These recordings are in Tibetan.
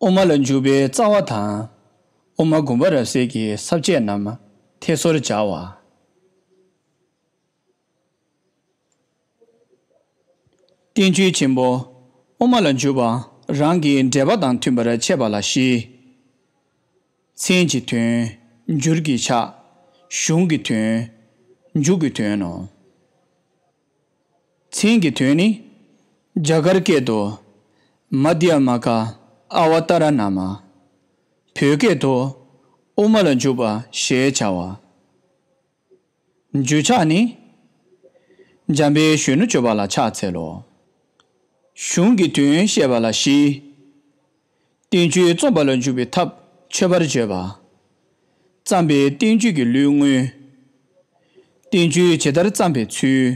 དབུ་མ་ལ་འཇུག་པའི་རྩ་བ་དང། དབུ་མ་དགུ་པ་རབ་གསལ་གྱི་ཟབ་ཆས་རྣམས་ཐད་སོར་སྦྱར་བ། བསྟན་བཅོས་ཆེན་པོ་དབུ་མ་ལ་འཇུག་པ་རང་གི་འགྲེལ་པ་དང་མཐུན་པར་འཆད་པ་ལ་བཞི། མཚན་གྱི་དོན། འགྱུར་གྱི་ཆ། གཞུང་གི་དོན། མཇུག་གི་དོན་ནོ། མཚན་གྱི་དོན་ནི། རྒྱ་གར་སྐད་དུ། མཱདྷཱི་མ་ཀཱི་ཨ་བ་ཏཱ་ར་ན་མ། བོད་སྐད་དུ། དབུ་མ་ལ་འཇུག་པ་ཞེས་བྱ་བ། འགྱོད་ཆགས་ནི། འཇམ་པའི་གཞོན་ནུ་སྤྱོད་པ་ལ་ཕྱག་འཚལ་ལོ། གཞུང་གི་དོན་བཤད་པ་ལ་བཞི། བསྟན་བཅོས་རྩོམ་པ་ལ་འཇུག་པའི་ཐབས་མཆོད་པར་བརྗོད་པ། བརྩམས་པའི་བསྟན་བཅོས་ཀྱི་ལུས་དངོས། བསྟན་བཅོས་ཇི་ལྟར་བརྩམས་པའི་ཚུལ།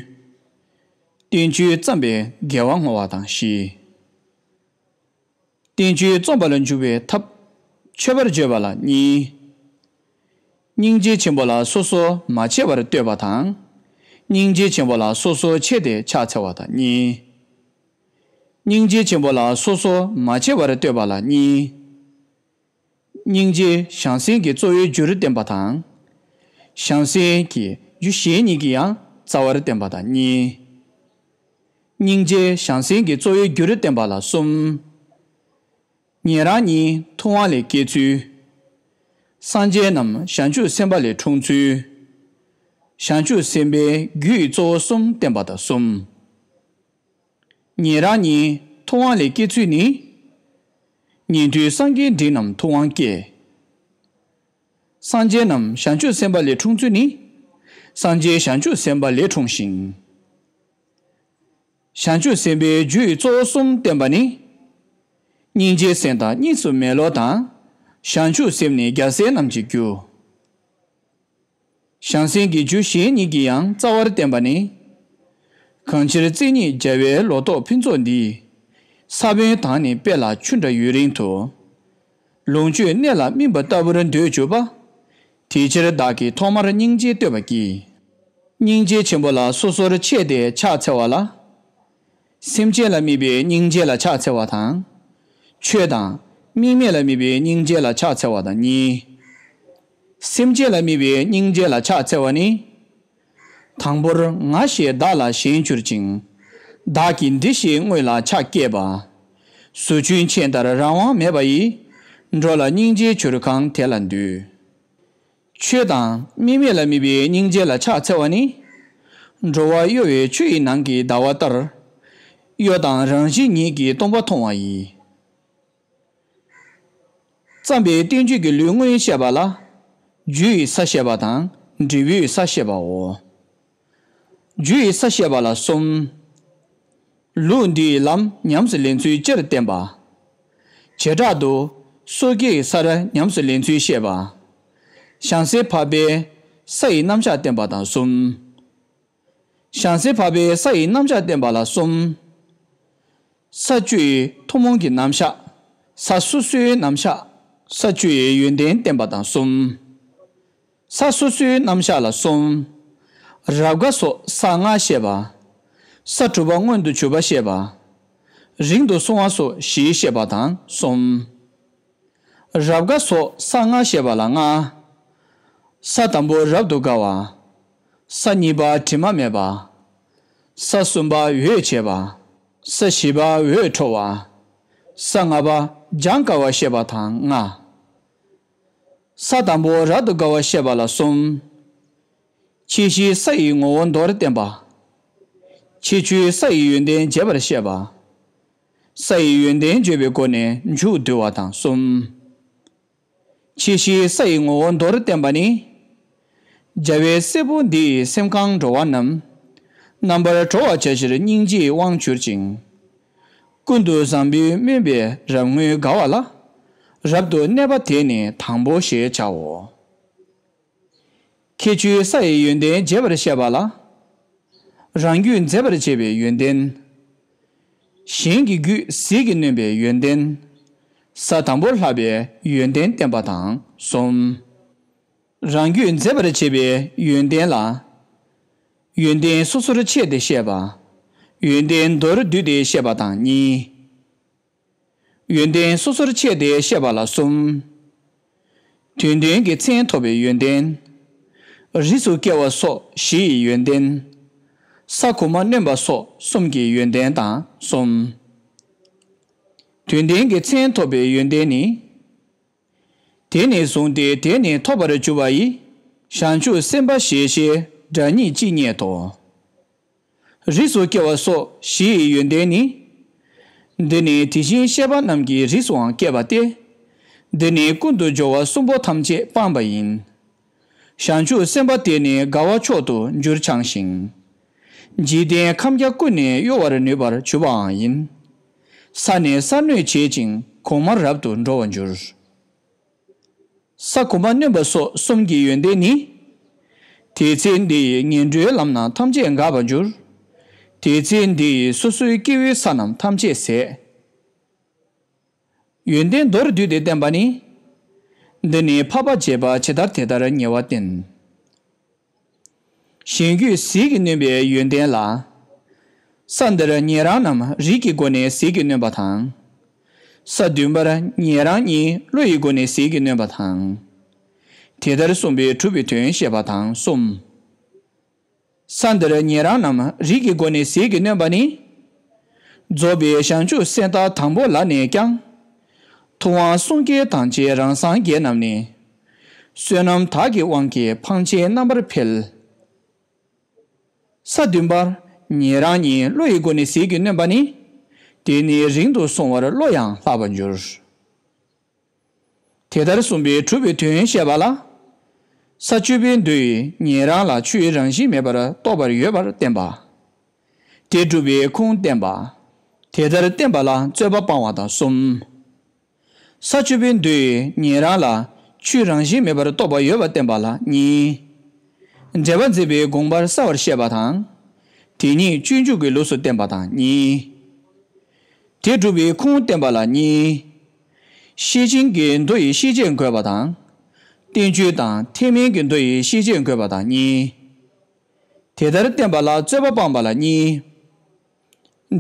བསྟན་བཅོས་བརྩམས་པའི་དགེ་བ་བསྔོ་བ་དང་བཞི། བསྟན་བཅོས་རྩོམ་པ་ལ་འཇུག་པའི་ཐབས། མཆོད་པར་བརྗོད་པ་ལ་གཉིས། སྙིང་རྗེ་ཆེན་པོ་ལ་སོ་སོར་མ་ཕྱེ་བར་བསྟོད་པ་དང། སྙིང་རྗེ་ཆེན་པོ་ལ་སོ་སོར་ཕྱེ་སྟེ་ཕྱག་འཚལ་བ་དང་གཉིས། སྙིང་རྗེ་ཆེན་པོ་ལ་སོ་སོར་མ་ཕྱེ་བར་བསྟོད་པ་ལ་གཉིས། སྙིང་རྗེའི་ཞང་སྲེང་གི་གཙོ་བོའི་རྒྱུར་བསྟན་པ་དང། ཞང་སྲེང་གི་རྒྱུ་གཞན་གཉིས་ཀྱི་ཡང་རྩ་བར་བསྟན་པ་དང་གཉིས། སྙིང་རྗེའི་ཞང་སྲེང་གི་གཙོ་བོའི་རྒྱུར་བསྟན་པ་ལ་གསུམ། ཉན་རང་གཉིས་ཐུབ་དབང་ལས་སྐྱེས་ཚུལ། སངས་རྒྱས་རྣམས་བྱང་ཆུབ་སེམས་དཔའ་ལས་འཁྲུངས་ཚུལ། བྱང་ཆུབ་སེམས་དཔའི་རྒྱུ་ཡི་གཙོ་བོ་གསུམ་བསྟན་པ་དང་གསུམ། ཉན་རང་ཉིད་ཐུབ་དབང་ལས་སྐྱེས་ཚུལ་ནི། ཉན་ཐོས་སངས་རྒྱས་འབྲིང་རྣམས་ཐུབ་དབང་སྐྱེས། སངས་རྒྱས་རྣམས་བྱང་ཆུབ་སེམས་དཔའ་ལས་འཁྲུངས་ཚུལ་ནི། སངས་རྒྱས་བྱང་ཆུབ་སེམས་དཔའ་ལས་འཁྲུངས་ཤིང། བྱང་ཆུབ་སེམས་དཔའི་རྒྱུད་གཙོ་བོ་གསུམ་བསྟན་པ་ནི། སྙིང་རྗེའི་སེམས་དང་གཉིས་སུ་མེད་བློ་དང། བྱང་ཆུབ་སེམས་ནི་རྒྱལ་སྲས་རྣམས་ཀྱི་རྒྱུ། བྱང་སེམས་ཀྱི་རྒྱུ་གཞན་ཉིད་ཀྱི་ཡང་རྩ་བར་བསྟན་པ་ནི། གང་ཕྱིར་རྩེ་གཉིས་རྒྱལ་བའི་ལོ་རྟོགས་ཕུན་ཚོགས་འདི། ས་བོན་དང་ནི་དཔེ་ལ་ཆུ་འདྲ་ཡུན་རིང་དུ། ལོངས་སྤྱོད་གནས་ལ་སྨིན་པ་ལྟ་བུར་འདོད་གྱུར་པ། དེ་ཕྱིར་བདག་གིས་ཐོག་མར་སྙིང་རྗེ་བསྟོད་པར་བགྱི། སྙིང་རྗེ་ཆེན་པོ་ལ་སོ་སོར་ཕྱེས་ཏེ་ཕྱག་འཚལ་བ་ལ། སེམས་ཅན་ལ་དམིགས་པའི་སྙིང་རྗེ་ལ་ཕྱག་འཚལ་བ་དང། ཆོས་དང། དམིགས་མེད་ལ་དམིགས་པའི་སྙིང་རྗེ་ལ་ཕྱག་འཚལ་བ་དང་གཉིས། སེམས་ཅན་ལ་དམིགས་པའི་སྙིང་རྗེ་ལ་ཕྱག་འཚལ་བ་ནི། དང་པོར་ང་ཞེས་བདག་ལ་གཞན་གྱུར་ཅིང། བདག་གིས་འདི་ཞེས་དངོས་ལ་ཕྱག་བསྐྱེད་པ། ཟོ་ཆུན་ཆེན་ལྟར་རང་དབང་མེད་པ་ཡིས། འགྲོ་ལ་སྙིང་རྗེའི་བྱུར་གང་དེ་ལ་འདུད། ཆོས་དང་དམིགས་མེད་ལ་དམིགས་པའི་སྙིང་རྗེ་ལ་ཕྱག་འཚལ་བ་ནི། འགྲོ་བ་གཡོ་བའི་ཆུ་ཡི་ནང་གི་ཟླ་བ་ལྟར། གཡོ་དང་རང་བཞིན་ཉིད་ཀྱིས་སྟོང་པ་མཐོང་བ་ཡིས། བརྩམས་པའི་བསྟན་བཅོས་ཀྱི་ལུས་དངོས་བཤད་པ་ལ། རྒྱུ་ཡི་ས་བཤད་པ་དང་འབྲས་བུའི་ས་བཤད་པའོ། རྒྱུ་ཡི་ས་བཤད་པ་ལ་གསུམ། ལུགས་འདི་ཡི་ལམ་ཉམས་སུ་ལེན་ཚུལ་སྤྱིར་བསྟན་པ། བྱེ་བྲག་ཏུ། སོ་སྐྱེ་ཡི་སར་ཉམས་སུ་ལེན་ཚུལ་བཤད་པ། བྱང་སེའི་བྷ་བའི་ས་ཡི་རྣམ་གཞག་བསྟན་པ་དང་གསུམ། བྱང་སེའི་བྷ་བའི་ས་ཡི་རྣམ་གཞག་བསྟན་པ་ལ་གསུམ། ས་བཅུ་ཡི་ཐུན་མོང་གི་རྣམ་གཞག། ས་སོ་སོའི་རྣམ་གཞག། ས་བཅུ་ཡི་ཡོན་ཏན་བསྟན་པ་དང་གསུམ། ས་སོ་སོའི་རྣམ་གཞག་ལ་གསུམ། རབ་དགའ་སོགས་ས་ལྔ་བཤད་པ། ས་དྲུག་པ་མངོན་དུ་གྱུར་པ་བཤད་པ། རིང་དུ་སོང་བ་སོགས་བཞི་བཤད་པ་དང་གསུམ། རབ་དགའ་སོགས་ས་ལྔ་བཤད་པ་ལ་ལྔ། ས་དང་པོ་རབ་ཏུ་དགའ་བ། ས་གཉིས་པ་དྲི་མ་མེད་པ། ས་གསུམ་པ་འོད་བྱེད་པ། ས་བཞི་པ་འོད་འཕྲོ་བ། ས་ལྔ་པ་སྦྱང་དཀའ་བ་བཤད་པ་དང་ལྔ། ས་དང་པོ་རབ་ཏུ་དགའ་བ་ཤེས་པ་ལ་གསུམ། ཕྱི་བཞིའི་ས་ཡི་ངོ་བོ་མདོར་བསྟན་པ། ཕྱི་ཆུའི་ས་ཡི་ཡོན་ཏན་རྒྱས་པར་བཤད་པ། ས་ཡི་ཡོན་ཏན་བརྗོད་པའི་སྒོ་ནས་མཇུག་བསྡུ་བ་དང་གསུམ། ཕྱི་བཞིའི་ས་ཡི་ངོ་བོ་མདོར་བསྟན་པ་ནི། རྒྱལ་བའི་སྲས་པོ་འདི་ཡི་སེམས་གང་འགྲོ་བ་རྣམས། རྣམ་པར་གྲོལ་བར་བྱ་ཕྱིར་སྙིང་རྗེའི་དབང་གྱུར་ཅིང། ཀུན་ཏུ་བཟང་པོའི་སྨོན་པས་རབ་ངུས་དགའ་བ་ལ། རབ་ཏུ་གནས་པ་དེ་ནི་དང་པོ་ཞེས་བྱའོ། ཁྱེད་ཆུའི་ས་ཡི་ཡོན་ཏན་རྒྱས་པར་བཤད་པ་ལ། རང་རྒྱུད་མཛེས་པར་བྱེད་པའི་ཡོན་ཏན། གཞན་གྱི་རྒྱུད་ཟིལ་གྱིས་གནོན་པའི་ཡོན་ཏན། ས་དང་པོར་ལྷག་པའི་ཡོན་ཏན་བསྟན་པ་དང་གསུམ། རང་རྒྱུད་མཛེས་པར་བྱེད་པའི་ཡོན་ཏན་ལ། ཡོན་ཏན་སོ་སོར་ཕྱེ་སྟེ་བཤད་པ། ཡོན་ཏན་མདོར་བསྡུས་ཏེ་བཤད་པ་དང་གཉིས། ཡོན་ཏན་སོ་སོར་ཕྱེ་སྟེ་བཤད་པ་ལ་གསུམ། དུས་མཐུན་གྱི་མཚན་ཐོབ་པའི་ཡོན་ཏན། རིས་སུ་སྐྱེ་བ་སོགས་བཞི་ཡི་ཡོན་ཏན། ས་ཁུག་མ་བསྣུན་པ་སོགས་གསུམ་གྱི་ཡོན་ཏན་དང་གསུམ། དུས་མཐུན་གྱི་མཚན་ཐོབ་པའི་ཡོན་ཏན་ནི། དེ་ནས་བཟུང་སྟེ་དེ་ནི་ཐོབ་པར་གྱུར་པ་ཡི། བྱང་ཆུབ་སེམས་དཔའ་ཞེས་བྱའི་སྒྲ་སྙིང་ཅི་སྙེད་དོ། རིགས་སུ་སྐྱེ་བ་སོགས་བཞི་ཡི་ཡོན་ཏན་ནི། འདི་ནི་དེ་བཞིན་གཤེགས་པ་རྣམས་ཀྱི་རིགས་སུའང་སྐྱེ་བ་སྟེ། འདི་ནི་ཀུན་དུ་སྦྱོར་བ་གསུམ་པོ་ཐམས་ཅད་སྤངས་པ་ཡིན། བྱང་ཆུབ་སེམས་དཔའ་དེ་ནི་དགའ་བ་མཆོག་ཏུ་འགྱུར་འཆང་ཞིང། འཇིག་རྟེན་ཁམས་བརྒྱ་ཀུན་ནས་གཡོ་བར་ནུས་པར་གྱུར་པའང་ཡིན། ས་ནས་སར་གནོད་བྱེད་ཅིང་གོང་མར་རབ་ཏུ་འགྲོ་བར་འགྱུར། ས་གོང་མ་གནོན་པ་སོགས་གསུམ་གྱི་ཡོན་ཏན་ནི། དེའི་ཚེ་འདི་ཡི་ངན་འགྲོའི་ལམ་རྣམས་ཐམས་ཅད་འགགས་པར་འགྱུར། དེའི་ཚེ་འདི་ཡི་སོ་སོའི་སྐྱེ་བོའི་ས་རྣམས་ཐམས་ཅད་ཟད། ཡོན་ཏན་མདོར་བསྡུས་ཏེ་བསྟན་པ་ནི། འདི་ནི་འཕགས་པ་བྱེད་པ་ཇི་ལྟར་དེ་ལྟར་ཉེ་བར་བསྟན། གཞན་རྒྱུད་ཟིལ་གྱིས་གནོན་པའི་ཡོན་ཏན་ལ། ས་འདིར་ངེད་རང་རྣམས་རིགས་ཀྱི་སྒོ་ནས་ཟིལ་གྱིས་གནོན་པ་དང། ས་བདུན་པར་ངེད་རང་གཉིས་བློ་ཡི་སྒོ་ནས་ཟིལ་གྱིས་གནོན་པ་དང། དེ་ལྟར་གསུངས་པའི་གྲུབ་པའི་དོན་བཤད་པ་དང་གསུམ། ས་འདིར་ཉན་རང་རྣམས་རིགས་ཀྱི་སྒོ་ནས་ཟིལ་གྱིས་གནོན་པ་ནི། རྫོགས་པའི་ཞག་མཇུག་གསེར་རྟ་དང་པོ་ལ་ནས་ཀྱང། ཐུབ་དབང་གསུང་སྐྱེས་དང་བཅས་རང་སངས་རྒྱས་རྣམས་ནི། བསོད་ནམས་དག་གི་དབང་གིས་འཕང་ཆེན་རྣམ་པར་འཕེལ། ས་བདུན་པར་ཉན་རང་ཉིད་བློ་ཡི་སྒོ་ནས་ཟིལ་གྱིས་གནོན་པ་ནི། དེ་ནི་རིང་དུ་སོང་བར་བློ་ཡང་ལྷག་པར་འགྱུར། དེ་ལྟར་གསུངས་པའི་གྲུབ་པའི་དོན་བཤད་པ་ལ། ས་བཅུ་པའི་འདུ་ཡི་ཉན་རང་ལ་ཆུའི་རང་བཞིན་མེད་པར་རྟོགས་པར་ཡོད་པར་བསྟན་པ། དེ་སྒྲུབ་པའི་ཁུངས་བསྟན་པ། དེ་ལྟར་བསྟན་པ་ལ་རྩོད་པ་སྤང་བ་དང་གསུམ། ས་བཅུ་པའི་འདུ་ཡི་ཉན་རང་ལ་ཆུའི་རང་བཞིན་མེད་པར་རྟོགས་པ་ཡོད་པར་བསྟན་པ་ལ་གཉིས། འབྲེལ་པ་འཛིན་པའི་དགོངས་པར་གསལ་བར་བཤད་པ་དང། དེ་ཉིད་སྤྱོད་འཇུག་གི་ལུགས་སུ་བསྟན་པ་དང་གཉིས། དེ་སྒྲུབ་པའི་ཁུངས་བསྟན་པ་ལ་གཉིས། ཤེར་ཕྱིན་གྱི་མདོ་ཡི་ཤེས་བྱེད་འགོད་པ་དང། བསྟན་བཅོས་དང་ཐེག་དམན་གྱི་མདོ་ཡི་ཤེས་བྱེད་འགོད་པ་དང་གཉིས། དེ་ལྟར་བསྟན་པ་ལ་རྩོད་པ་སྤངས་པ་ལ་གཉིས།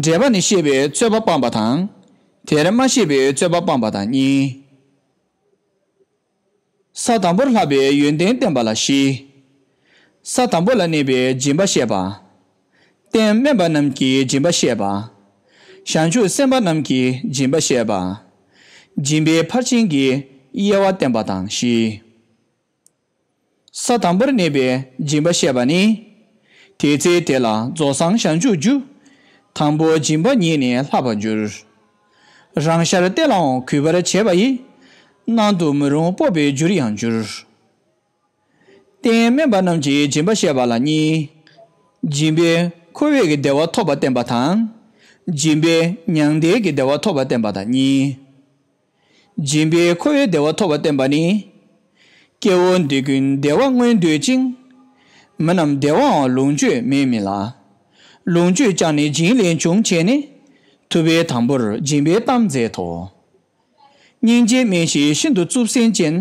འགྲེལ་པ་ནི་ཤེས་པའི་རྩོད་པ་སྤངས་པ་དང་དེར་མ་ཤེས་པའི་རྩོད་པ་སྤངས་པ་དང་གཉིས། ས་དང་པོར་ལྷག་པའི་ཡོན་ཏན་བསྟན་པ་ལ་བཞི། ས་དང་པོ་ལ་གནས་པའི་སྦྱིན་པ་བཤད་པ། རྟེན་དམན་པ་རྣམས་ཀྱི་སྦྱིན་པ་བཤད་པ། བྱང་ཆུབ་སེམས་དཔའ་རྣམས་ཀྱི་སྦྱིན་པ་བཤད་པ། སྦྱིན་པའི་ཕར་ཕྱིན་གྱི་དབྱེ་བ་བསྟན་པ་དང་བཞི། ས་དང་པོར་གནས་པའི་སྦྱིན་པ་བཤད་པ་ནི། དེའི་ཚེ་དེ་ལ་རྫོགས་སངས་བྱང་ཆུབ་རྒྱུ། དང་པོའི་སྦྱིན་པ་ཉིད་ནི་ལྷག་པར་འགྱུར། རང་ཤར་གཏད་ལའང་གུས་པར་བྱས་པ་ཡིས། སྣང་དུ་མི་རུང་སྤོབས་པའི་རྒྱུར་ཡང་འགྱུར། རྟེན་དམན་པ་རྣམས་ཀྱི་སྦྱིན་པ་བཤད་པ་ལ་གཉིས། སྦྱིན་པས་ཁོ་བོས་ཀྱི་བདེ་བ་ཐོབ་པར་བསྟན་པ་དང། སྦྱིན་པས་མྱང་འདས་ཀྱི་བདེ་བ་ཐོབ་པར་བསྟན་པ་དང་གཉིས། སྦྱིན་པས་ཁོ་བོའི་བདེ་བ་ཐོབ་པར་བསྟན་པ་ནི། སྐྱེ་བོ་འདི་ཀུན་བདེ་བ་མངོན་འདོད་ཅིང། མི་རྣམས་བདེ་བའང་ལོངས་སྤྱོད་མེད་མིན་ལ། ལོངས་སྤྱོད་ཀྱང་ནི་སྦྱིན་ལས་འབྱུང་བྱས་ནས། ཐུབ་པའི་དང་པོར་སྦྱིན་པའི་གཏམ་མཛད་དོ། སྙིང་རྗེ་སྨིན་ཞིང་ཤིན་ཏུ་རྩུབ་སེམས་ཅན།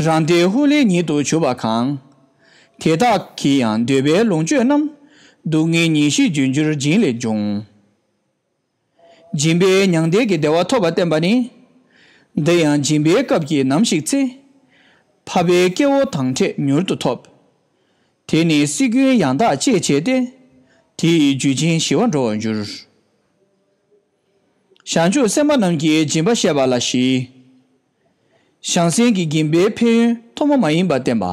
རང་སྡེའི་ཧཱུྃ་ལས་ཉིད་དུ་བྱུར་བ་གང། དེ་དག་གིས་ཡང་འདོད་པའི་ལོངས་སྤྱོད་རྣམས། སྡུག་བསྔལ་ཉིན་བཞིན་རྒྱུན་གྱུར་སྦྱིན་ལས་འབྱུང། སྦྱིན་པས་མྱང་འདས་ཀྱི་བདེ་བ་ཐོབ་པར་བསྟན་པ་ནི། འདི་ཡང་སྦྱིན་པའི་སྐབས་ཀྱིས་ནམ་ཞིག་ཚེ་འཕགས་པའི་སྐྱེ་བོ་དང་འཕྲད་མྱུར་དུ་ཐོབ། དེ་ནི་སྲིད་ཀུན་ཡང་དག་སྤྱད་བྱས་ཏེ། དེ་ཡི་རྒྱུ་ཅན་ཞི་བར་འགྲོ་བར་འགྱུར། བྱང་ཆུབ་སེམས་དཔའ་རྣམས་ཀྱིས་སྦྱིན་པ་བཤད་པ་ལ་བཞི། བྱང་སེམས་ཀྱི་སྦྱིན་པའི་ཕན་ཡོན་ཐོག་མ་མ་ཡིན་པར་བསྟན་པ།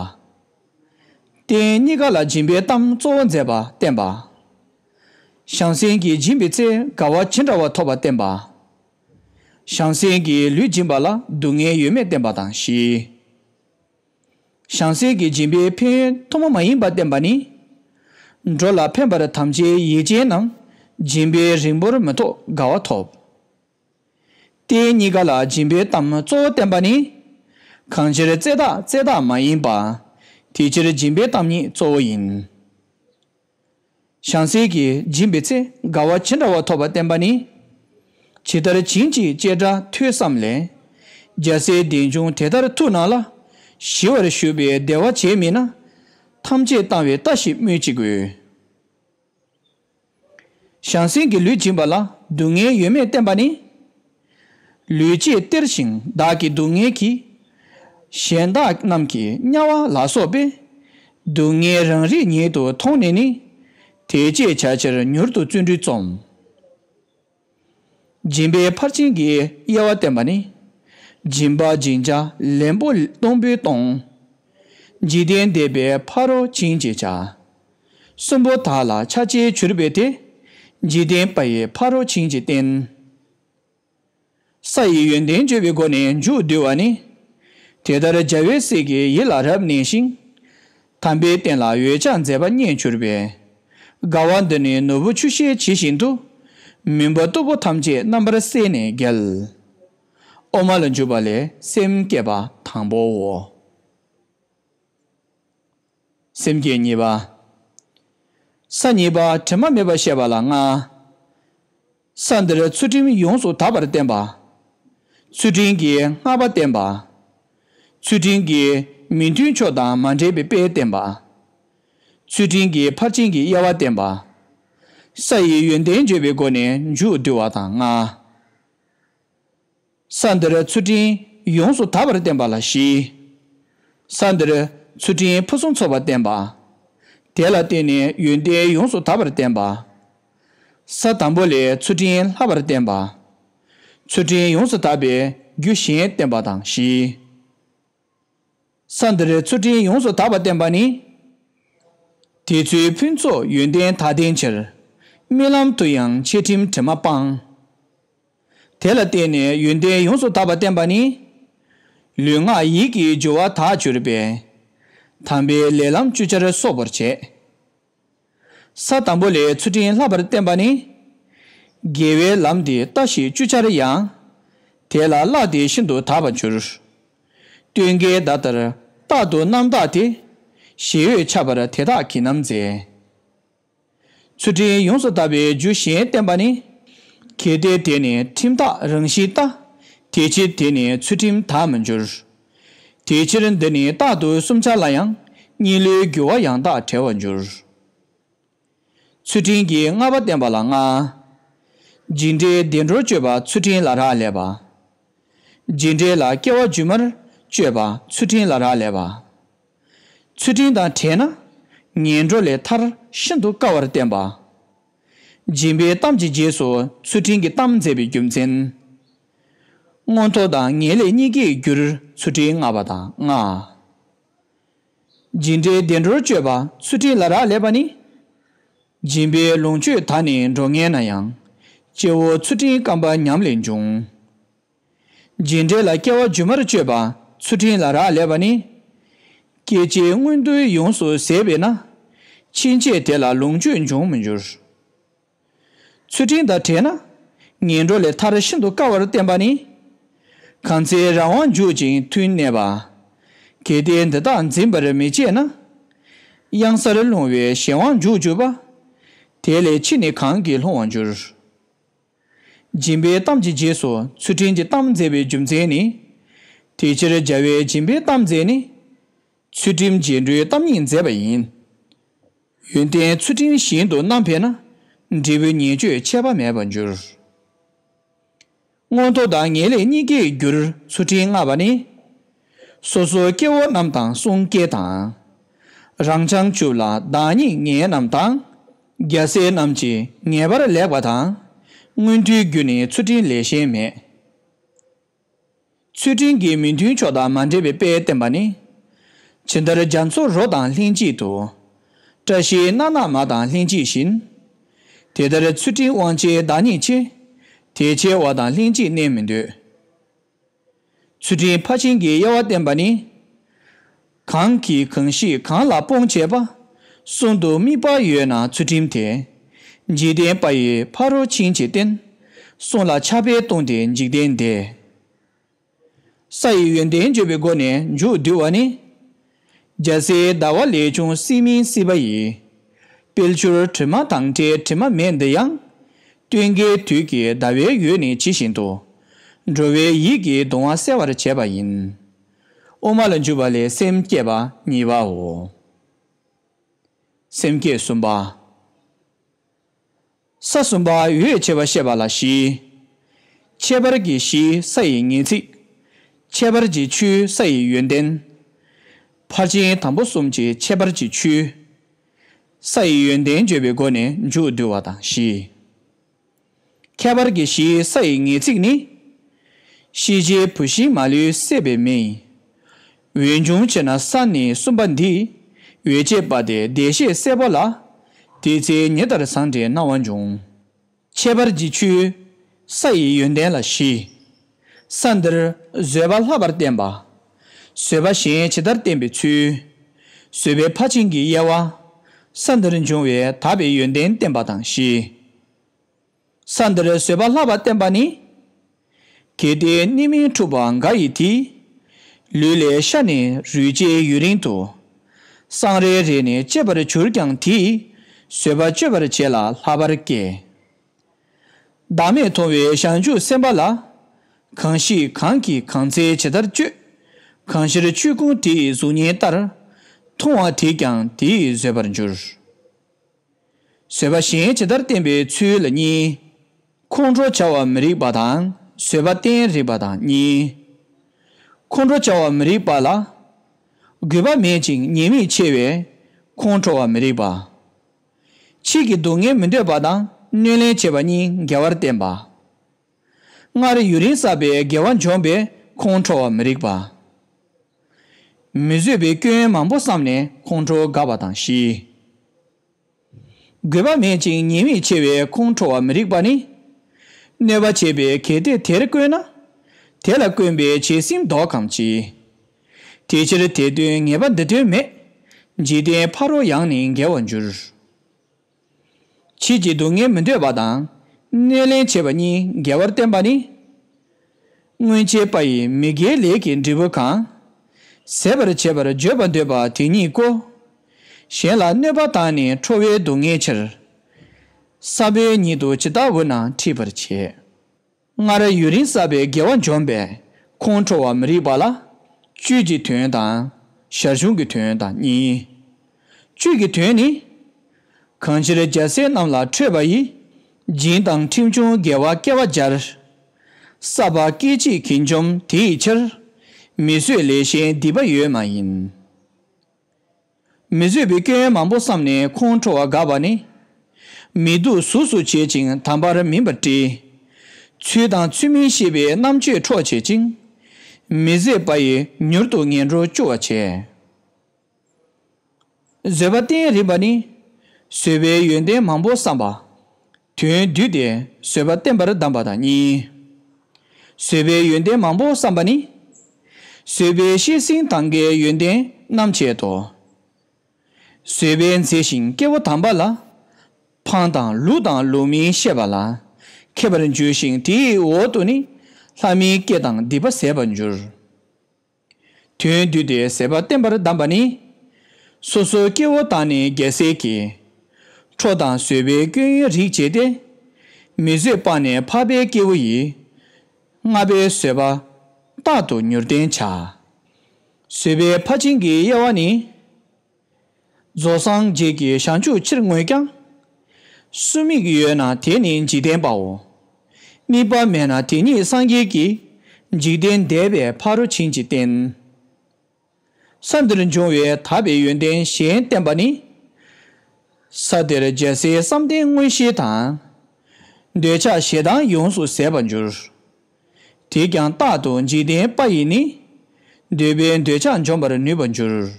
རྟེན་གཉིས་ཀ་ལ་སྦྱིན་པའི་གཏམ་གཙོ་བོ་མཛད་པར་བསྟན་པ། བྱང་སེམས་ཀྱི་སྦྱིན་པའི་ཚེ་དགའ་བ་ཇི་འདྲ་བ་ཐོབ་པར་བསྟན་པ། བྱང་སེམས་ཀྱི་ལུས་སྦྱིན་པ་ལ་སྡུག་བསྔལ་ཡོད་མེད་བསྟན་པ་དང་བཞི། བྱང་སེམས་ཀྱི་སྦྱིན་པའི་ཕན་ཡོན་ཐོག་མ་མ་ཡིན་པར་བསྟན་པ་ནི། འགྲོ་ལ་ཕན་པར་དམ་བཅའི་ཡིད་ཅན་རྣམས་སྦྱིན་པའི་རིང་པོར་མི་ཐོགས་དགའ་བ་ཐོབ། དེ་གཉིས་ཀ་ལ་སྦྱིན་པའི་གཏམ་གཙོ་བོ་བསྟན་པ་ནི། གང་ཕྱིར་བརྩེ་བདག་བརྩེ་བདག་མ་ཡིན་པ། དེ་ཕྱིར་སྦྱིན་པའི་གཏམ་ཉིད་གཙོ་བོ་ཡིན། བྱང་སེས་ཀྱིས་སྦྱིན་པའི་ཚེ་དགའ་བ་ཇི་འདྲ་བ་ཐོབ་པ་བསྟན་པ་ནི། ཇི་ལྟར་བྱིན་ཅིག་ཅེས་སྒྲ་ཐོས་སམ་ལས། རྒྱལ་སྲས་བདེ་འབྱུང་དེ་ལྟར་ཐུགས་སྣང་ལ། ཞི་བར་བཞུགས་པའི་བདེ་བ་བྱེད་མིན་ན། ཐམས་ཅད་བཏང་བའི་ལྟ་ཞིག་སྨོས་ཅི་དགོས། བྱང་སེམས་ཀྱི་ལུས་སྦྱིན་པ་ལ་སྡུག་བསྔལ་ཡོད་མེད་བསྟན་པ་ནི། ལུས་བཅས་སྟེར་ཞིང་བདག་གིས་སྡུག་བསྔལ་གྱིས། གཞན་དག་རྣམས་ཀྱིས་དམྱལ་བ་ལ་སོགས་པའི། སྡུག་བསྔལ་རང་རིག་ཉིད་དུ་མཐོང་ནས་ནི། དེ་སྤྱད་བྱ་ཕྱིར་མྱུར་དུ་བརྩོན་འགྲུས་རྩོམ། སྦྱིན་པའི་ཕར་ཕྱིན་གྱི་དབྱེ་བ་བསྟན་པ་ནི། སྦྱིན་པ་སྦྱིན་བྱ་ལེན་པོ་སྟོང་པོའི་སྟོང། འཇིག་རྟེན་འདས་པའི་ཕ་རོལ་ཕྱིན་ཅེས་བྱ། གསུམ་པོ་དག་ལ་ཆ་བྱད་བྱུར་བས་དེ། འཇིག་རྟེན་པ་ཡི་ཕ་རོལ་ཕྱིན་གྱི་རྟེན། ས་ཡི་ཡོན་ཏན་བརྗོད་པའི་སྒོ་ནས་མཇུག་བསྡུ་བ་ནི། དེ་ལྟར་རྒྱལ་བའི་སྲས་ཀྱི་ཡིད་ལ་རབ་གནས་ཤིང། དམ་པའི་བསྟན་ལ་འོད་ཆགས་མཛད་པ་རྙེད་གྱུར་པས། དགའ་བ་འདི་ནི་ནོར་བུ་ཆུ་ཤེལ་ཇི་བཞིན་དུ། མུན་པ་སྟུག་པོ་ཐམས་ཅད་རྣམ་པར་བསལ་ནས་རྒྱལ། དབུ་མ་ལ་འཇུག་པ་ལས་སེམས་བསྐྱེད་པ་དང་པོའོ། སེམས་བསྐྱེད་གཉིས་པ། ས་གཉིས་པ་དྲི་མ་མེད་པར་བཤད་པ་ལ་ལྔ། ས་འདིར་ཚུལ་ཁྲིམས་ཡོངས་སུ་དག་པར་བསྟན་པ། ཚུལ་ཁྲིམས་ཀྱི་བསྔགས་པ་བསྟན་པ། ཚུལ་ཁྲིམས་ཀྱི་མི་མཐུན་ཕྱོགས་དང་མ་འདྲེས་པའི་དཔེ་བསྟན་པ། ཚུལ་ཁྲིམས་ཀྱི་ཕར་ཕྱིན་གྱི་དབྱེ་བ་བསྟན་པ། ས་ཡི་ཡོན་ཏན་བརྗོད་པའི་སྒོ་ནས་མཇུག་བསྡུ་བ་དང་ལྔ། ས་འདིར་ཚུལ་ཁྲིམས་ཡོངས་སུ་དག་པར་བསྟན་པ་ལ་བཞི། ས་འདིར་ཚུལ་ཁྲིམས་ཕུན་སུམ་ཚོགས་པར་བསྟན་པ། དེ་ལ་བརྟེན་ནས་ཡོན་ཏན་ཡོངས་སུ་དག་པར་བསྟན་པ། ས་དང་པོ་ལས་ཚུལ་ཁྲིམས་ལྷག་པར་བསྟན་པ། ཚུལ་ཁྲིམས་ཡོངས་སུ་དག་པའི་རྒྱུ་གཞན་བསྟན་པ་དང་བཞི། ས་འདི་རུ་ཚུལ་ཁྲིམས་ཡོངས་སུ་དག་པ་བསྟན་པ་ནི། དེ་ཚོའི་ཕུན་ཚོགས་ཡོན་ཏན་དག་ལྡན་ཕྱིར། རྨི་ལམ་དུ་ཡང་འཆད་ཁྲིམས་དྲི་མ་སྤངས། དེ་ལ་བརྟེན་ནས་ཡོན་ཏན་ཡོངས་སུ་དག་པ་བསྟན་པ་ནི། ལུས་ངག་ཡིད་ཀྱི་སྦྱོར་བ་དག་གྱུར་པས། དམ་པའི་ལས་ལམ་བཅུ་ཆར་སོགས་པར་བྱས། ས་དང་པོ་ལས་ཚུལ་ཁྲིམས་ལྷག་པར་བསྟན་པ་ནི། དགེ་བའི་ལམ་འདི་ལྟ་ཞིག་བཅུ་ཆར་ཡང། དེ་ལ་གླགས་འདི་ཤིན་ཏུ་དག་པར་འགྱུར། སྟོན་ཀའི་ཟླ་ལྟར་རྟག་ཏུ་རྣམ་དག་སྟེ། ཞེ་འོད་འཆར་བར་དེ་དག་གིས་ནམ་མཛད། ཚུལ་ཁྲིམས་ཡོངས་སུ་དག་པའི་རྒྱུ་གཞན་བསྟན་པ་ནི། གལ་ཏེ་དེ་ནི་ཁྲིམས་དག་རང་བཞིན་ལྟ། དེ་ཕྱིར་དེ་ནི་ཚུལ་ཁྲིམས་དག་མི་འགྱུར། དེའི་ཕྱིར་འདི་ནི་རྟག་ཏུ་གསུམ་ཆར་ལ་ཡང་གཉིས་ལོའི་རྒྱུ་བ་ཡང་དག་བྲལ་བར་འགྱུར། ཚུལ་ཁྲིམས་ཀྱི་ལྔ་པ་བསྟན་པ་ལ་ལྔ། འཇིགས་འདྲེས་བདེ་འགྲོར་སྤྱོད་པ་ཚུལ་ཁྲིམས་ལ་རག་ལས་པ། འཇིགས་འདྲེས་ལ་སྐྱེ་བ་བརྒྱུད་མར་སྤྱོད་པ་ཚུལ་ཁྲིམས་ལ་རག་ལས་པ། ཚུལ་ཁྲིམས་དང་བྲལ་ན་ངན་འགྲོ་ལས་ཐར་ཤིན་ཏུ་དཀའ་བར་བསྟན་པ། སྦྱིན་པའི་གཏམ་གྱི་རྗེས་སུ་ཚུལ་ཁྲིམས་ཀྱི་གཏམ་མཛད་པའི་རྒྱུ་མཚན། མངོན་མཐོ་དང་ངེས་ལེགས་གཉིས་ཀྱིས་བསྒྱུར་ཚུལ་ཁྲིམས་ལྔ་པ་དང་ལྔ། སྦྱིན་འབྲས་བདེ་འགྲོར་སྤྱོད་པ་ཚུལ་ཁྲིམས་ལ་རག་ལས་པ་ནི། སྦྱིན་པའི་ལོངས་སྤྱོད་ད་ནི་འགྲོ་ངན་ན་ཡང། སྐྱེ་བོ་ཚུལ་ཁྲིམས་སྐམ་པ་ཉམས་ལས་འབྱུང། སྦྱིན་འབྲས་ལ་སྐྱེ་བ་སྒྱུ་མར་སྤྱོད་པ་ཚུལ་ཁྲིམས་ལ་རག་ལས་པ་ནི། སྐྱེ་འཆིའི་མངོན་མཐོ་ཡོངས་སུ་ཟད་པས་ན། ཕྱིན་ཆད་དེ་ལ་ལོངས་སྤྱོད་འབྱུང་མི་འགྱུར། ཚུལ་ཁྲིམས་དང་བྲལ་ན་ངན་འགྲོ་ལས་ཐར་ཤིན་ཏུ་དཀའ་བར་བསྟན་པ་ནི། གང་ཚེ་རང་དབང་འཇུག་ཅིང་མཐུན་གནས་པ། གལ་ཏེ་འདི་དག་འཛིན་པར་མི་བྱེད་ན། གཡང་སར་ལྷུང་བའི་གཞན་དབང་འཇུག་གྱུར་པ། དེ་ལས་ཕྱིས་ནི་གང་གིས་ལྷུང་བར་འགྱུར། སྦྱིན་པའི་གཏམ་གྱི་རྗེས་སུ་ཚུལ་ཁྲིམས་ཀྱི་གཏམ་མཛད་པའི་རྒྱུ་མཚན་ནི། དེ་ཕྱིར་རྒྱལ་བས་སྦྱིན་པའི་གཏམ་མཛད་ནི། ཚུལ་ཁྲིམས་རྗེས་འགྲོའི་གཏམ་ཉིད་མཛད་པ་ཡིན། ཡོན་ཏན་ཚུལ་ཁྲིམས་བཞིན་དུ་རྣམ་འཕེལ་ན། འབྲས་བུའི་ཉེས་སྤྱོད་ཆད་པ་མེད་པར་འགྱུར། མངོན་མཐོ་དང་ངེས་ལེགས་གཉིས་ཀའི་རྒྱུར་ཚུལ་ཁྲིམས་མངའ་བ་ནི། སོ་སོའི་སྐྱེ་བོ་རྣམས་དང་གསུང་སྐད་དང། རང་བྱང་ཆུབ་ལ་བདག་ཉིད་ངན་རྣམས་དང། རྒྱལ་སྲས་རྣམས་ཀྱིས་ངེས་པར་ལེགས་པ་དང། མངོན་མཐོའི་རྒྱུ་ནི་ཚུལ་ཁྲིམས་ལས་གཞན་མེད། ཚུལ་ཁྲིམས་ཀྱི་མི་མཐུན་ཕྱོགས་དང་མ་འདྲེས་པའི་དཔེ་བསྟན་པ་ནི། ཇི་ལྟར་རྒྱ་མཚོ་རོ་དང་ལྷན་ཅིག་ཏུ། བཀྲ་ཤིས་སྣ་ནག་མ་དང་ལྷན་ཅིག་བཞིན། དེ་ལྟར་ཚུལ་ཁྲིམས་དབང་བྱེད་བདག་ཉིད་ཆེ། དེ་ཆེ་བ་དང་ལྷན་ཅིག་གནས་མི་འདོད། ཚུལ་ཁྲིམས་ཕར་ཕྱིན་གྱི་དབྱེ་བ་བསྟན་པ་ནི། གང་གིས་གང་ཞིག་གང་ལ་སྤོང་བྱེད་པ། གསུང་དུ་དམིགས་པ་ཡོད་ན་ཚུལ་ཁྲིམས་དེ། འཇིག་རྟེན་པ་ཡི་ཕ་རོལ་ཕྱིན་ཅི་བརྟེན། གསུང་ལ་ཆགས་པས་ལྟུང་སྟེ་འཇིག་རྟེན་འདས། ས་ཡི་ཡོན་ཏན་བརྗོད་པའི་སྒོ་ནས་མཇུག་བསྡུ་བ་ནི། རྒྱལ་སྲིད་ཟླ་བ་ལས་ཅུང་སྲིད་མིན་སྲིད་པ་ཡི། དཔལ་ཆུར་དྲི་མ་དང་བྲལ་དྲི་མ་མེད་འདི་ཡང། སྟོན་ཀའི་དུས་ཀྱི་ཟླ་བའི་ཡུལ་ནི་ཇི་བཞིན་དུ། འགྲོ་བའི་ཡིད་ཀྱི་གདུང་བ་སེལ་བར་བྱེད་པ་ཡིན། དབུ་མ་ལ་འཇུག་པ་ལས་སེམས་བསྐྱེད་པ་གཉིས་པའོ། སེམས་བསྐྱེད་གསུམ་པ། ས་གསུམ་པ་འོད་བྱེད་པ་ཤེས་པ་ལ་བཞི། ཁྱད་པར་གྱི་གཞིའི་ས་ཡི་ངེས་ཚིག། ཁྱད་པར་གྱི་ཆུའི་ས་ཡི་ཡོན་ཏན། ཕར་ཕྱིན་དང་པོ་གསུམ་གྱི་ཁྱད་པར་གྱི་ཆུའི་ས་ཡི་ཡོན་ཏན་བརྗོད་པའི་སྒོ་ནས་མཇུག་བསྡུ་བ་དང་བཞི། ཁྱད་པར་གྱི་གཞིའི་ས་ཡི་ངེས་ཚིག་ནི། ཤེས་བྱའི་བུད་ཤིང་མ་ལུས་བསྲེས་པའི་མེ་ཡིན། འོད་འབྱུང་ཆེ་ན་ས་ནི་གསུམ་པ་འདིས་འོད་བྱེད་པ་སྟེ་བདེ་གཤེགས་སེར་པོ་ལ། དེའི་ཚེ་ཉི་ལྟར་བཟང་འབྲས་སྣང་བ་འབྱུང། ཁྱད་པར་གྱི་ཆུའི་ས་ཡི་ཡོན་ཏན་ལ་བཞི། ས་འདིར་བཟོད་པ་ལྷག་པར་བསྟན་པ། བཟོད་པ་གཞན་ཇི་ལྟར་བསྟན་པའི་ཚུལ། བཟོད་པའི་ཕར་ཕྱིན་གྱི་དབྱེ་བ། ས་འདིར་འབྱུང་བའི་དག་པའི་ཡོན་ཏན་བསྟན་པ་དང་བཞི། ས་འདིར་བཟོད་པ་ལྷག་པར་བསྟན་པ་ནི། གལ་ཏེ་གནས་མིན་འཁྲུགས་པ་འགའ་ཡི་དེ། ལུས་ལས་ཤར་ནས་རུས་བཅད་ཡུན་རིང་དུ། སྲང་རེ་རེ་ནས་གཅད་པར་གྱུར་ཀྱང་དེས་བཟོད་པ་གཅོད་པར་བྱེད་ལ་ལྷག་པར་སྐྱེ། བདག་མེད་མཐོང་བའི་བྱང་ཆུབ་སེམས་དཔའ་ལ། གང་ཞིག་གང་གིས་གང་འཚལ་ཇི་ལྟར་སྤྱོད། གང་ཕྱིར་ཆོས་ཀུན་དེ་ཡི་གཟུགས་བརྙན་ལྟར། མཐོང་བ་དེས་ཀྱང་དེ་ཡིས་བཟོད་པར་འགྱུར། བཟོད་པ་གཞན་ཇི་ལྟར་བསྟན་པའི་ཚུལ་ལ་གཉིས། ཁོང་ཁྲོ་བྱ་བ་མི་རིགས་པ་དང་བཟོད་པ་བསྟན་རིགས་པ་དང་གཉིས། ཁོང་ཁྲོ་བྱ་བ་མི་རིགས་པ་ལ། རྒུད་པ་མེད་ཅིང་ཉེས་དམིགས་ཆེ་བས་ཁོང་ཁྲོ་བ་མི་རིགས་པ། ཕྱིས་ཀྱི་སྡུག་བསྔལ་མི་འདོད་པ་དང་གནོད་ལན་བྱེད་པ་གཉིས་འགལ་བར་བསྟན་པ། སྔར་རེ་ཡུན་རིང་བསགས་པའི་དགེ་བ་འབྱོངས་པས་ཁོང་ཁྲོ་བ་མི་རིགས་པ། མི་བཟོད་པའི་སྐྱོན་མང་པོ་བསམས་ནས་ཁོང་ཁྲོ་དགའ་བ་དང་བཞི། དགོས་པ་མེད་ཅིང་ཉེས་དམིགས་ཆེ་བས་ཁོང་ཁྲོ་བ་མི་རིགས་པ་ནི། གནོད་པ་བྱེད་པའི་གལ་ཏེ་དེར་བཀོད་ན། དེ་ལ་བཀོན་པའི་བྱད་སེམས་ལྡོག་གམ་ཅི། དེ་ཕྱིར་དེ་དོན་ངེས་པ་འདི་དོན་མེད། འཇིག་རྟེན་ཕ་རོལ་ཡང་ནི་འགལ་བར་འགྱུར། ཕྱིས་ཀྱི་སྡུག་བསྔལ་མི་འདོད་པ་དང། གནས་ལེན་བྱེད་པ་གཉིས་འགལ་བར་བསྟན་པ་ནི། སྔོན་བྱས་པ་ཡི་མི་དགེའི་ལས་ཀྱི་འབྲས་བུ་གང། ཟད་པར་བྱེད་པར་བརྗོད་པར་འདོད་པ་དེ་ཉིད་ཀོ། གཞན་ལ་གནོད་པ་དང་ནི་ཁྲོ་བའི་སྡུག་བསྔལ་ཕྱིར། ས་བོན་ཉིད་དུ་ཇི་ལྟ་བུ་ན་འཁྲིད་པར་བྱེད། སྔ་ར་ཡུན་རིང་བསགས་པའི་དགེ་བ་འཇོམས་པས་ཁོང་ཁྲོ་བ་མི་རིགས་པ་ལ། བཅུད་ཀྱི་དོན་དང། ཞར་བྱུང་གི་དོན་དང་གཉིས་ཡིན། བཅུད་ཀྱི་དོན་ནི། གང་ཕྱིར་རྒྱལ་སྲས་རྣམས་ལ་ཁྲོས་པ་ཡི། སྦྱིན་དང་ཁྲིམས་ཆུང་དགེ་བ་སྐལ་བ་སྦྱར། བསགས་པ་སྐད་གཅིག་གིས་འཇོམས་དེ་ཡི་ཕྱིར། མི་བཟོད་ལས་གཞན་སྡིག་པ་ཡོད་མ་ཡིན། མི་བཟོད་པའི་སྐྱོན་ཡོན་མང་པོ་བསམས་ནས་ཁོང་ཁྲོ་བ་དགའ་བ་ནི། མི་སྡུག་གཟུགས་སུ་བྱེད་ཅིང་དམ་པར་མིན་པར་བཀྲི། ཚུལ་དང་ཚུལ་མིན་ཤེས་པའི་རྣམ་དཔྱོད་འཕྲོག་བྱེད་ཅིང། མི་བཟད་པ་ཡིས་མྱུར་དུ་ངན་འགྲོར་སྐྱུར་བར་བྱེད། བཟོད་པ་བརྟན་རིམ་པ་ནི། བཟོད་པའི་ཡོན་ཏན་མང་པོ་བསམས་པ། དོན་བསྡུས་ཏེ་བཟོད་པ་བསྟན་པར་གདམས་པ་དང་གཉིས། བཟོད་པའི་ཡོན་ཏན་མང་པོ་བསམ་པ་ནི། བཟོད་པའི་གཤེགས་ཟིན་ཐང་གའི་ཡོན་ཏན་རྣམ་བཅད་དོ། བཟོད་པས་མཛེས་ཤིང་སྐྱེ་བོ་དམ་པ་ལ། འཕང་དང་ལུགས་དང་ལུགས་མིན་ཤེས་པ་ལ། མཁས་པར་འགྱུར་ཞིང་དེའི་འོག་ཏུ་ནི། ལྷ་མིའི་སྐད་དང་སྡིག་པ་ཟད་པར་འགྱུར། དོན་བསྡུས་ཏེ་ཟད་པ་བསྟན་པར་གདམས་པ་ནི། སོ་སོའི་སྐྱེ་བོ་དང་ནི་རྒྱལ་སྲས་ཀྱི། ཁྲོ་དང་བཟོད་པའི་སྐྱོན་ཡོན་རིག་བྱས་ཏེ། མི་བཟོད་སྤངས་ནས་འཕགས་པའི་སྐྱེ་བོ་ཡི། ལྔ་པའི་བཟོད་པ་རྟག་ཏུ་མྱུར་བསྟན་བྱ། བཟོད་པའི་ཕར་ཕྱིན་གྱི་དབྱེ་བ་ནི། རྫོགས་སངས་རྒྱས་ཀྱི་བྱང་ཆུབ་ཕྱིར་བསྔོས་ཀྱང། སུ་མིག་ཡོད་ན་དེ་ནི་འཇིག་རྟེན་པའོ། དམིགས་པ་མེད་ན་དེ་ཉིད་སངས་རྒྱས་ཀྱི། འཇིག་རྟེན་འདས་པའི་ཕ་རོལ་ཕྱིན་ཅི་བསྟན། ས་འདིར་འབྱུང་བའི་དག་པའི་ཡོན་ཏན་གཞན་བསྟན་པ་ནི། ས་དེར་རྒྱལ་སྲས་བསམ་གཏན་མངོན་ཤེས་དང། འདོད་ཆགས་ཞེ་སྡང་ཡོངས་སུ་ཟད་པར་འགྱུར། དེས་ཀྱང་རྟག་ཏུ་འཇིག་རྟེན་དཔའ་ཡིས་ནི། འདོད་པའི་འདོད་ཆགས་འཇོམས་པར་ནུས་པར་འགྱུར།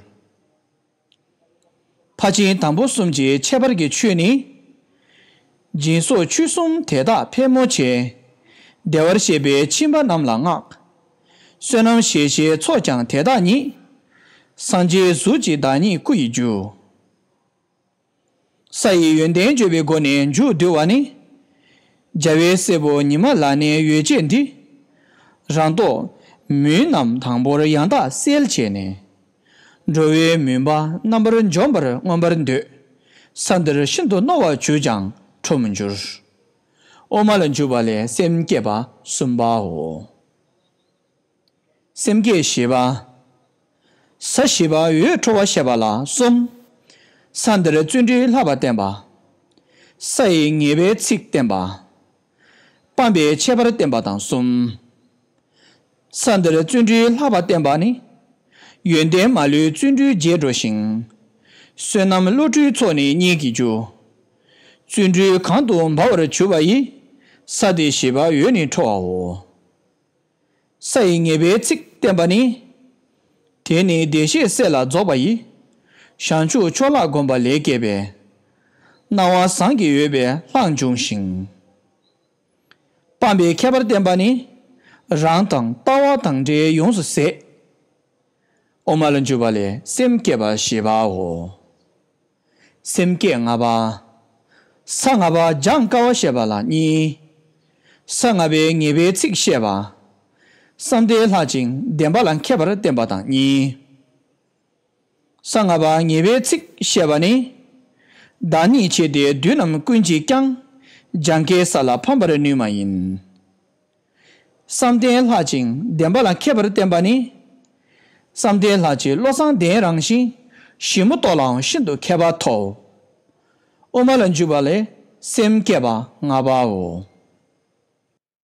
ཕ་ཆིངས་དང་པོ་གསུམ་གྱི་ཁྱད་པར་གྱི་ཆོས་ནི། སྦྱིན་སོགས་ཆོས་གསུམ་དེ་དག་ཕལ་མོ་ཆེ། བདེ་བར་གཤེགས་པའི་ཁྱིམ་པ་རྣམས་ལ་བསྔགས། བསོད་ནམས་གཞལ་བྱའི་ཚོགས་ཀྱང་དེ་དག་ཉིད། སངས་རྒྱས་གཟུགས་ཀྱི་བདག་ཉིད་སྐུ་ཡི་རྒྱུ། ས་ཡི་ཡོན་ཏན་བརྗོད་པའི་སྒོ་ནས་མཇུག་བསྡུ་བ་ནི། རྒྱལ་བའི་སྲས་པོ་ཉི་མ་ལ་ནི་ཡོ་བྱད་འདི། རང་རྟོག་མུན་རྣམས་དང་པོར་ཡང་དག་སེལ་བྱས་ནས། འགྲོ་བའི་མུན་པ་རྣམ་པར་འཇོམས་པར་མངོན་པར་འདོད། ས་འདིར་ཤིན་ཏུ་རྣོ་བར་བྱུགས་ཀྱང་འཕྲོ་མི་འགྱུར། དབུ་མ་ལ་འཇུག་པ་ལས་སེམས་བསྐྱེད་པ་གསུམ་པའོ། སེམས་བསྐྱེད་བཞི་པ། ས་བཞི་པ་འོད་འཕྲོ་བ་བཤད་པ་ལ་གསུམ། ས་འདིར་བརྩོན་འགྲུས་ལྷག་པར་བརྟན་པ། ས་ཡི་ངེས་པའི་ཚིག་བསྟན་པ། སྤངས་པའི་ཁྱད་པར་བསྟན་པ་དང་གསུམ། ས་འདིར་བརྩོན་འགྲུས་ལྷག་པར་བརྟན་པ་ནི། ཡོན་ཏན་མ་ལུས་བརྩོན་འགྲུས་རྒྱས་འགྲོ་ཞིང། བསོད་ནམས་བློ་གྲོས་ཚོགས་ནི་སྙེད་ཀྱི་རྒྱུ། བརྩོན་འགྲུས་གང་དུ་འབར་བར་གྱུར་པ་ཡིས། ས་དེ་བཞི་པ་འོད་ནི་འཕྲོ་བའོ། ས་ཡི་ངེས་པའི་ཚིག་བསྟན་པ་ནི། དེ་ནི་བདེ་གཤེགས་སྲས་ལ་རྫོགས་པ་ཡི། བྱང་ཆུབ་མཆོག་ལྷ་བསྒོམ་པ་ལས་སྐྱེས་པའི། སྣང་བ་ཟངས་ཀྱི་འོད་པའི་ལྷར་འབྱུང་ཞིང། སྤངས་པའི་ཁྱད་པར་བསྟན་པ་ནི། རང་དང་ལྟ་བ་དང་འབྲས་ཡོངས་སུ་ཟད། དབུ་མ་ལ་འཇུག་པ་ལས་སེམས་བསྐྱེད་པ་ཞེས་པའོ། སེམས་བསྐྱེད་ལྔ་པ། ས་ལྔ་པ་སྦྱང་དཀའ་བ་བཤད་པ་ལ་གཉིས། ས་ལྔ་པའི་ངེས་པའི་ཚིག་བཤད་པ། གསང་བདེ་ལྷག་ཅིང་བདེན་པ་ལ་མཁས་པར་བསྟན་པ་དང་གཉིས། ས་ལྔ་པ་ངེས་པའི་ཚིག་བཤད་པ་ནི། བདག་ཉིད་ཆེ་སྟེ་བདུད་རྣམས་ཀུན་གྱིས་ཀྱང། སྦྱང་དཀའི་ས་ལ་ཕམ་པར་ནུས་མ་ཡིན། བསམ་གཏན་ལྷག་ཅིང་བདེན་པ་ལ་མཁས་པར་བསྟེན་པ་ནི། བསམ་གཏན་ལྷག་ཅིང་བློ་བཟང་ལྡན་རང་བཞིན་ཞིབ་མོ་རྟོགས་ལའང་ཤིན་ཏུ་མཁས་པ་ཐོབ། དབུ་མ་ལ་འཇུག་པ་ལས་སེམས་བསྐྱེད་པ་ལྔ་པའོ།